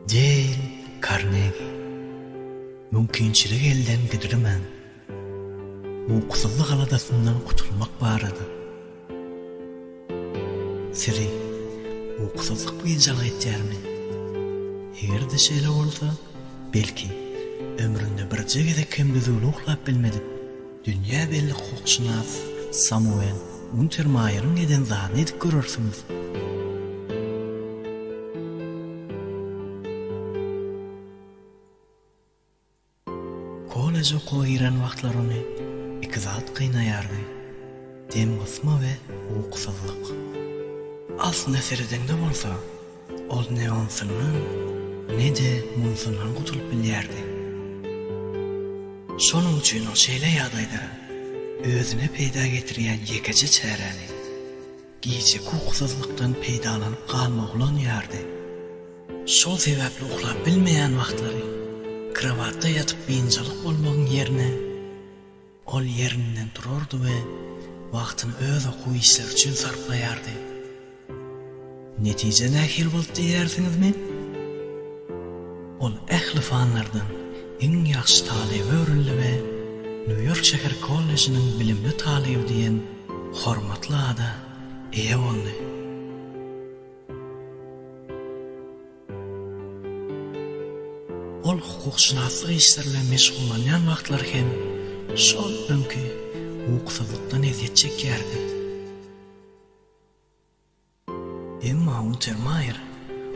Deýl Karnegi mümkinçiligi elden gidirmän, ukusyzlyk aladasyndan gutulmak barada Sizi ukusyzlyk biynjalyk etýärmi? Eger-de şeýle bolsa, belki, ömründe birje gezek hem düzgün uklap bilmedik Dünýä belli hukukşynas Samuel Untermaýeriň eden zadyny edip görersiňiz. Kolleje okuwa giren wagtlary ony iki zat gynaýardy, demgysma we ukusyzlyk. Aslyna seredeňde bolsa, Ol ne onsyndan, ne-de munsyndan gutulyp bilýärdi. Şonuň üçin ol şeýle ýagdaýda özüne peýda getirýän ýekeje çäräni, gijeki ukusyzlykdan peýdalanyp galmagy ulanýardy. Şol sebäpli uklap bilmeýän wagtlary krowatda ýatyp biynjalyk bolmagyň ýerine, Ol ýerinden turardy we wagtyny öz okuw işleri üçin sarplaýardy. Netije nähili boldy diýýärsiňizmi? Ol ähli fanlardan iň ýagşy talyba öwrüldi we Nýu-Ýork şäher kollejiniň bilimli talyby diýen hormatly ada eýe boldy. Ol hukukşynaslyk işleri bilen meşgullanýan wagtlary hem şol öňki ukusyzlykdan ezýet çekýärdi. Emma Untermaýer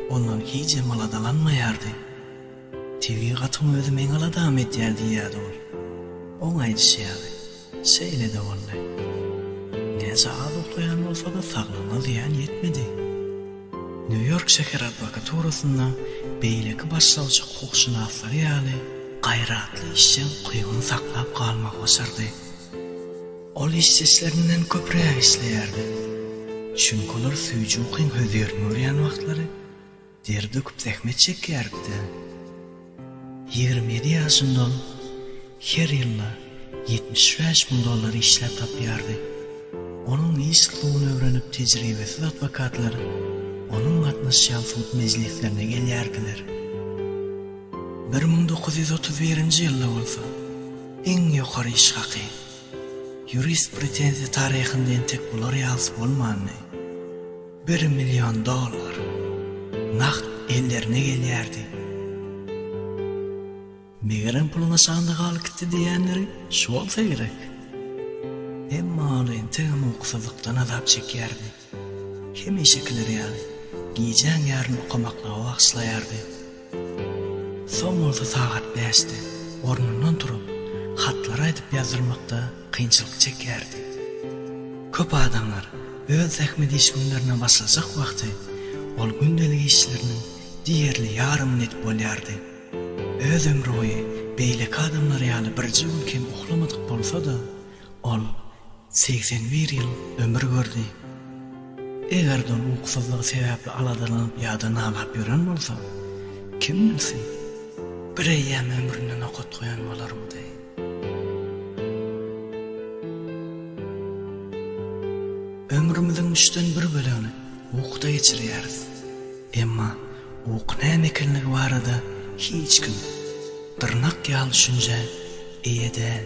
ondan hiç hem aladalanmaýardy. Tebigatyň özi meň aladamy edýär diýýärdi ol. Oň aýdyşy ýaly. Şeýle-de boldy. Näçe az uklaýan bolsa-da saglygyna zyýan ýetmedi. Nýu-Ýork şäher adwokaturasynda beýleki başlawçy hukukşynaslary ýaly gaýratly işjeň gybyny saklap galmagy başardy. Ol işdeşlerinden köpräk işleýärdi. Çünki olar süýji ukyň hözirini görýän wagtlary, Ter döküp zähmet çekýärik-dä. Ýigrimi ýedi ýaşyndan her ýylda ýetmiş bäş müň dollar işläp tapýardy. Onuň iş usulyny öwrenip tejribesiz adwokatlar onuň gatnaşýan sud mejlislerine gelýärdiler. Bir müň dokuz ýüz otuz birinji ýylda bolsa iň ýokary iş haky, ýurist pretenziýa taryhynda entek bular ýalysy bolmandy. Bir million dollar nagt ellerine gelýärdi. Megerem puluny şanda galyp gitdi diýýänleri şu bolsa gerek. Emma ol entegem ukusyzlykdan azap çekýärdi. Hemişekileri ýaly, gijäň ýaryn okamaklyga bagyşlaýardy. Soň bolsa sagat bäşde ornundan turup, hatlary aýdyp ýazdyrmakda kynçylyk çekýärdi. Köp adamlar öz zähmet iş günlerine başlajak wagty ol gündelik işleriniň diýerli ýarymyny edip bolýardy. Öz ömrüboýy beýleki adamlar ýaly birje gün kem uhlamadyk bolsa-da, Ol segsen bir ýyl ömür gördi. Eger-de ol ukusyzlygy sebäpli aladalanyp ýa-da nalap ýören bolsa, kim bilsin, bir eýýäm ömrüne nokat goýan bolarmydy? Ömrümiziň üçden bir bölegini ukuda geçirýäris. Emma uky näme ekenligi barada hiç kim dyrnak ýaly düşünjä eýe däl.